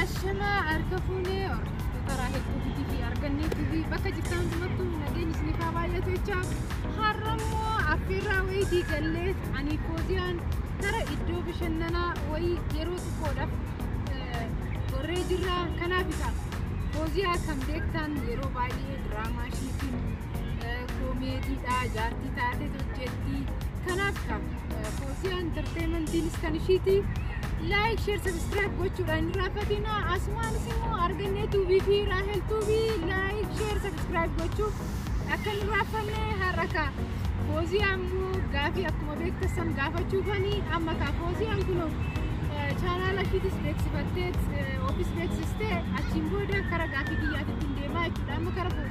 Ashamaa harka fuunee hordoftoota Raahel Tuubii fi Argannee TV bakka jirtan hundumattuu nageenyi isiniif haa baay'atu jecha har'a immoo affeerraa wayii diigallee ani kooziyaan gara iddoo bashannanaa wayii yeroo xiqqoodhaaf eh, gorree jirra kanaaf isa kooziyaa kan beektan yeroo baay'ee diraamaa ishiitiin koomeediidha jaartii taatee hojjetti kanaaf foosiyaa intarteemantiinis kan ishiiti laayik sheer sabiskiraayib gochuudhaan hin irraanfatinaa asumaanis immoo argannee tuubii fi raahel tuubii laayik sheer sabiskiraayib gochuu akka hin irraanfanne har'a kaa fooziyaa immoo gaafii akkuma beektassan gaafachuufani amma kaa fooziyaan kunoo chaanaala ishiitis beeksifattee ofiis beeksistee achiin booda kara gaafii kiyyaatitti hin deemaa jechuudha amma kara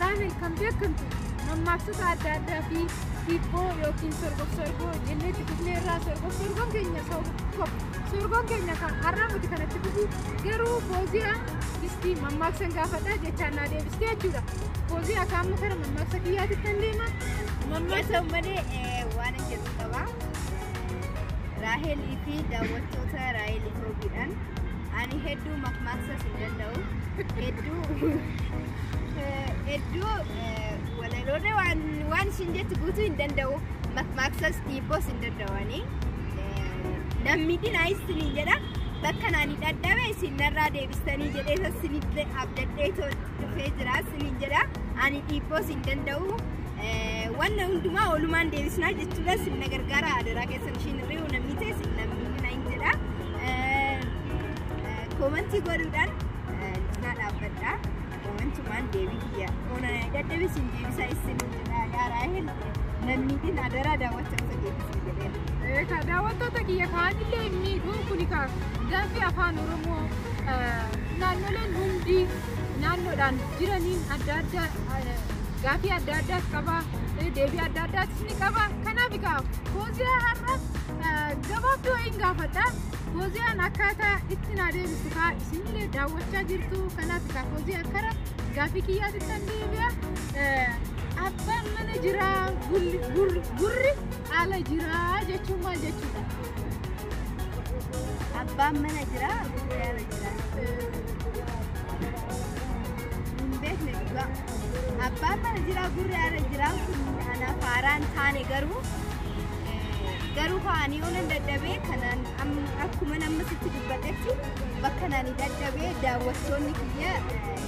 Raamel kan beekamtu mammaaksota adda addaa fi hiibboo yookiin sorgof sorgoo jennee itti fufnee irraa sorgof sorgoon keenya tokko sorgoon keenya kan har'aa miti kan itti fufu garuu fooziyaa itti mammaaksan gaafadha jechaan naa deebiste jechuudha. Fooziyaa akka amma gara mammaaksa kiyyaatti kan deema mammaaksa Keessaa malee eh, waan hin jedhu qaba. Raahelii fi daawwattoota Raahel Itoobiidhaan ani hedduu makmaaksas hin danda'u. Hedduu Hedduu walaloorra waan ishiin jettu guutuu hin danda'u. Makmaaksas dhiibboos hin danda'anii. Namni dinaa isiniin jedha. Bakka naani dhadhabe isin narraa deebistanii jedhee isa isinitti abdadhee dhufee jira isiniin jedha. Ani dhiibboos hin danda'u. Wanna hundumaa oolumaan deebisnaa jechuudha isin na gargaara adaraa keessan ishiin hirri'u namni ta'e isin namni dinaa hin jedha. Koomantii godhuudhaan Cinaa dhaabbadhaa. Waantumaan deebii kiyya. Oona dadhabe sin deebisaa isin jedhaa yaa raahel. Lammiitiin adaraa daawwachaa osoo deebisuu jedheen. Eh, ka daawwattoota kiyya kaanillee hin miidhu kuni ka gaaffii afaan oromoo eh, naannoleen hundi naannoodhaan jiraniin adda adda eh, gaaffii adda addaas qaba eh, deebii adda addaas ni qaba kanaaf egaa fooziyaa har'a eh, gabaabduu wayiin gaafadha Fooziyaan akkaataa itti naa deebistu kaa isinillee daawwachaa jirtu kanaaf kaa foozii akkara gaaffii kiyyaatti kan deebi'a. Abbaan mana jiraa gurri ala jiraa jechuun maal jechuudha? Abbaan mana jiraa gurri ala jiraa. Hin beekne dhugaa. Abbaan mana jiraa gurri ala jiraa kun anaaf haaraan taane garuu. garuu kaanii oolan dadhabee kanaan akkuma namni sitti dubbatetti bakka naani dadhabee daawwattoonni kiyya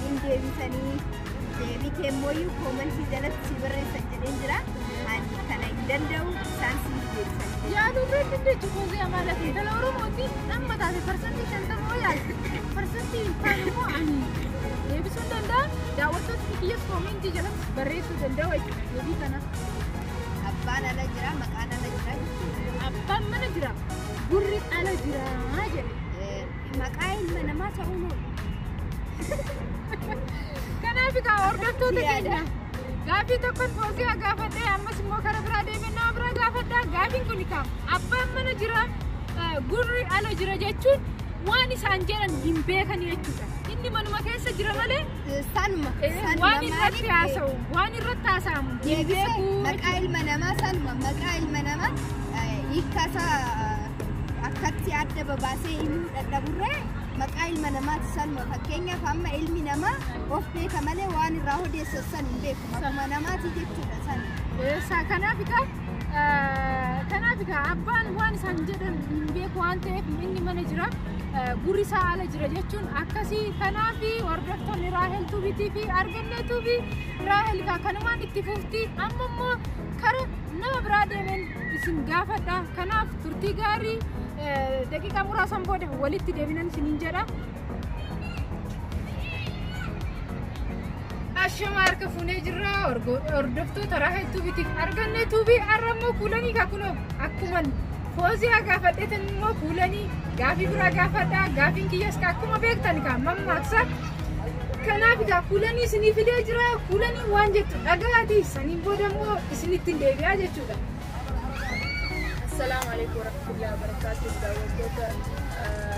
hin deebisanii deebii keemmooyyuu koomantii jalatti si barreessan jedheen jira ani kana hin danda'u isaan si deebisan yaa dubreen dandeechi koozii amaala fi dhala oromooti amma taate parsantii shantama oo yaalte parsantii kaan immoo ani deebisuu danda'a daawwattoonni kiyyas koomentii jalatti barreessuu danda'u jechuudha deebii kana. Abbaan ala jira, maqaan ala jira jechuudha. Abbaan mana jira, gurri ala jira jedhe. Eh, Maqaa ilma namaa ta'uun oolu. Kanaaf egaa hordoftoota Yaada. keenya gaaffii tokkon fooziyaa gaafadhee ammas immoo karaa biraa deemee nama biraa gaafadhaa gaaffiin kun egaa abbaan mana jira eh, gurri ala jira jechuun waan isaan jedhan hin beekan jechuudha inni manuma keessa jira malee sanuma waan irratti haasa'u waan irratti haasa'amu hin beeku maqaa ilma namaa sanuma maqaa ilma namaa hiikkasaa akkatti adda babaasee himuu dadhaburree maqaa ilma namaati sanuma fakkeenyaaf amma ilmi namaa of beeka malee waan irraa odeessan san hin beeku maquma namaati jechuudha san isaa kanaaf egaa kanaaf egaa abbaan waan isaan jedhan hin beeku waan ta'eef inni mana jira gurri isaa ala jira jechuun akkasii kanaaf hordoftoonni raahel tuubiitii fi argannee tuubii raahel kaa kanumaan itti fufti amma immoo kara nama biraa deemeen isin gaafadha kanaaf turtii gaarii daqiiqaa muraasan booda walitti deebinan isiniin jedha. Ashama harka fuunee jirra hordoftoota raha tuubitiif arganne tuubii har'a immoo kuulanii kakunoo akkuman foozii gaafadheetan immoo kuulanii gaafii biraa gaafadhaa gaafiin kiyyas ka akkuma beektan ka mammaaksa kanaaf egaa kuulanii isinii fidee jira kuulanii waan jettu dhagaati saniin booda immoo isinittiin deebi'aa jechuudha. Assalamu alaikum warahmatullahi wabarakatuh. Daawwattoota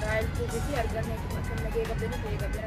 Raayil Tuubii fi arganne akkam nagee qabdanii ta'ee qabdanii.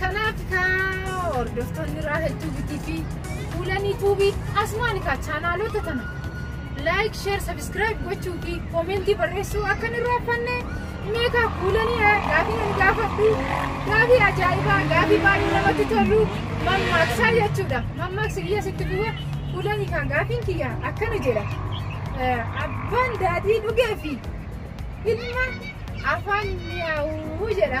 Kanaaf kaa hordoftoonni Raahel Tuubii TV fuulanii tuubii asumaan kaa chaanaalota tana laayik sheer sabiskiraayib gochuu fi koomentii barreessuu akka nu raaffanne mee kaa fuulanii gaafii ani gaafadhu gaafii ajaa'ibaa gaafii baay'ee namatti tolu mammaaksaa jechuudha mammaaksi kiyya sitti bu'e fuulanii kaa gaafiin kiyya akkana jedha abbaan daadhii dhugee fi ilma afaan mi'aawuu jedha.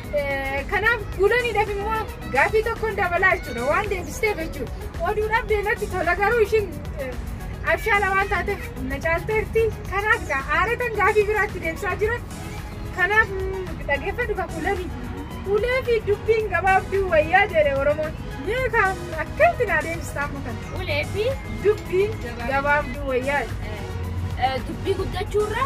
Kanaaf guulaniidhaaf immoo gaaffii tokkoon dabalaa jechuudha waan deebisteef jechuudha. Oduudhaaf deematti tola garuu ishiin abshaala waan taateef na caalteerti. Kanaaf gaa aaratan gaaffii biraatti deebisaa jira. Kanaaf dhageeffadhu ka kuulanii. Ulee fi dubbiin gabaabduu wayyaa jedhe Oromoon. Mee kan akkamitti naa deebistaa amma kana? Ulee fi Dubbiin gabaabduu wayyaa jedhe. dubbii guddachuurra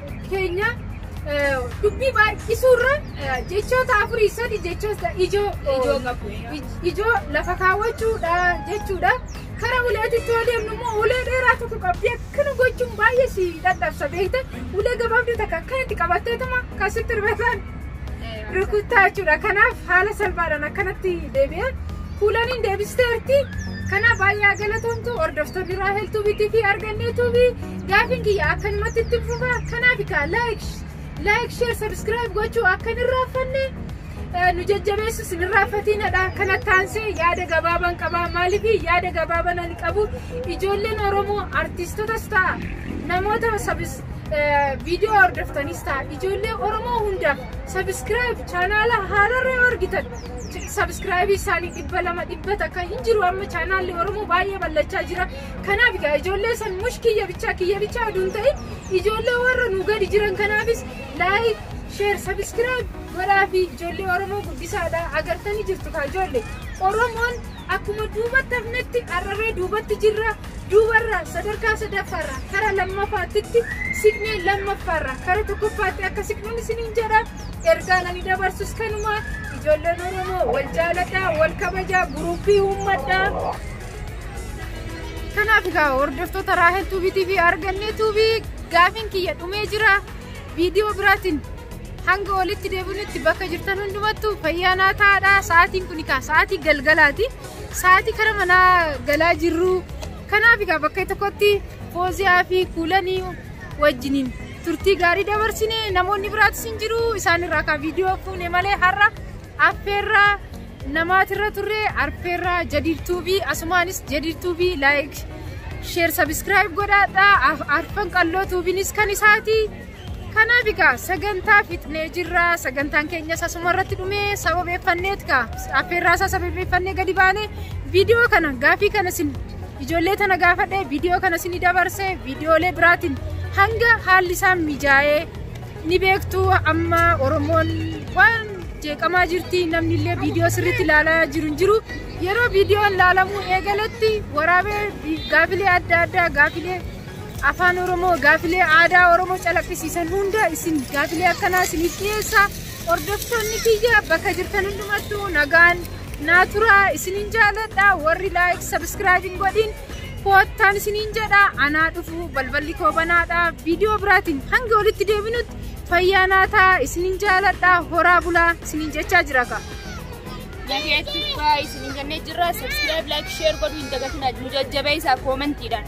keenya dubbii baay'isuurra jechoota afurii sadi jechoota ijoo ijoo lafa kaawwachuudha jechuudha. Kara uleetitti yoo deemnu immoo ulee dheeraa tokko qabdi akkana gochuun baay'ee si dadhabsa beekta. Ulee gabaabduu takka akkanatti qabatteetuma kan sitti rifatan rukuttaa jechuudha. Kanaaf haala salphaadhaan akkanatti deebi'e. Kuulaniin deebisteerti. Kanaaf baay'ee galatoomtu hordoftoonni Raahel Tuubii TV argannee tuubii. Gaafiin kiyya akkanumatti ittin fufa kanaaf egaa like like share subscribe gochuu akka hin irraanfanne eh, nu jajjabeessu sin irraanfatiinadha kana taansee yaada gabaabaan qaba maaliif yaada gabaabaan ani qabu ijoolleen oromoo artiistotas ta'a namoota sabis eh, viidiyoo hordoftanis ta'a ijoollee oromoo hundaaf sabiskiraayib chaanaala haararra yoo argitan sabiskiraayibii isaanii dhibba lama dhibba takka hin jiru amma chaanaalli oromoo baay'ee bal'achaa jira Kanaaf egaa ijoollee san mush kiyya bichaa kiyya bichaa oduu hin ta'in ijoollee warra nu gadi jiran kanaafis laayik sheer sabiskiraayib godhaa fi ijoollee Oromoo guddisaadha agartanii jirtu kaa ijoollee Oromoon akkuma duubatti hafnetti har'arree duubatti jirra duubarraa sadarkaa sadaffaarraa kara lammaffaattitti siqnee lammaffaarraa kara tokkoffaatti akka siqnuun isiniin jedha ergaan ani dabarsus kanumaa ijoolleen Oromoo wal jaaladhaa wal kabajaa guruuppii uummadhaa Kanaaf egaa hordoftoota Raahel Tuubii TV argannee Tuubii gaafiin kiyya dhumee jira viidiyoo biraatiin hanga walitti deebinutti bakka jirtan hundumattu fayyaa naa taa'adha sa'aatiin kun egaa sa'aatii galgalaati sa'aatii kara manaa galaa jirru kanaaf egaa bakka tokkotti fooziyaa fi kuulanii wajjiniin turtii gaarii dabarsine namoonni biraatis hin jiru isaan irraa kan viidiyoo fuune malee har'a Affeerraa namaatirra turre arfeerraa jadiid tuubii asumaanis jadiid tuubii laayik sheer sabiskiraayib godhaadhaa arfan qalloo tuubiinis kan isaati. Kanaaf egaa sagantaa fixnee jirra sagantaan keenyas asuma irratti dhumee sababeeffanneet kaa affeerraa isaa sababeeffannee gadi baane viidiyoo kana gaafii kana sin ijoollee tana gaafadhee viidiyoo kana sin dabarse viidiyoolee biraatiin hanga haalli isaa mijaa'ee Ni beektu amma Oromoon waan jeeqamaa jirti namni illee viidiyoo sirriitti ilaalaa jiru hin jiru. Yeroo viidiyoon ilaalamuu eegaletti waraabee vi- gaafilee adda addaa gaafilee afaan Oromoo gaafilee aadaa Oromoo calaqqisiisan hunda isin gaafilee akkanaa isiniif dhiyeessa. Hordoftoonni kiyya bakka jirtan hundumattuu nagaan naa turaa isinin jaaladha warri laayik sabiskiraayib hin godhin koottaan isiniin jedha anaa dhufu balballi koo banaadha viidiyoo biraatiin hanga walitti deebinutti fayyaa naa ta'a isiniin jaaladha horaa bulaa isiniin jechaa jira ka. Nageetti faa isiniin jennee jirra. Subscribe, like, share godhuu hin dagatinaa. Nu jajjabeessaa koomentiidhaan.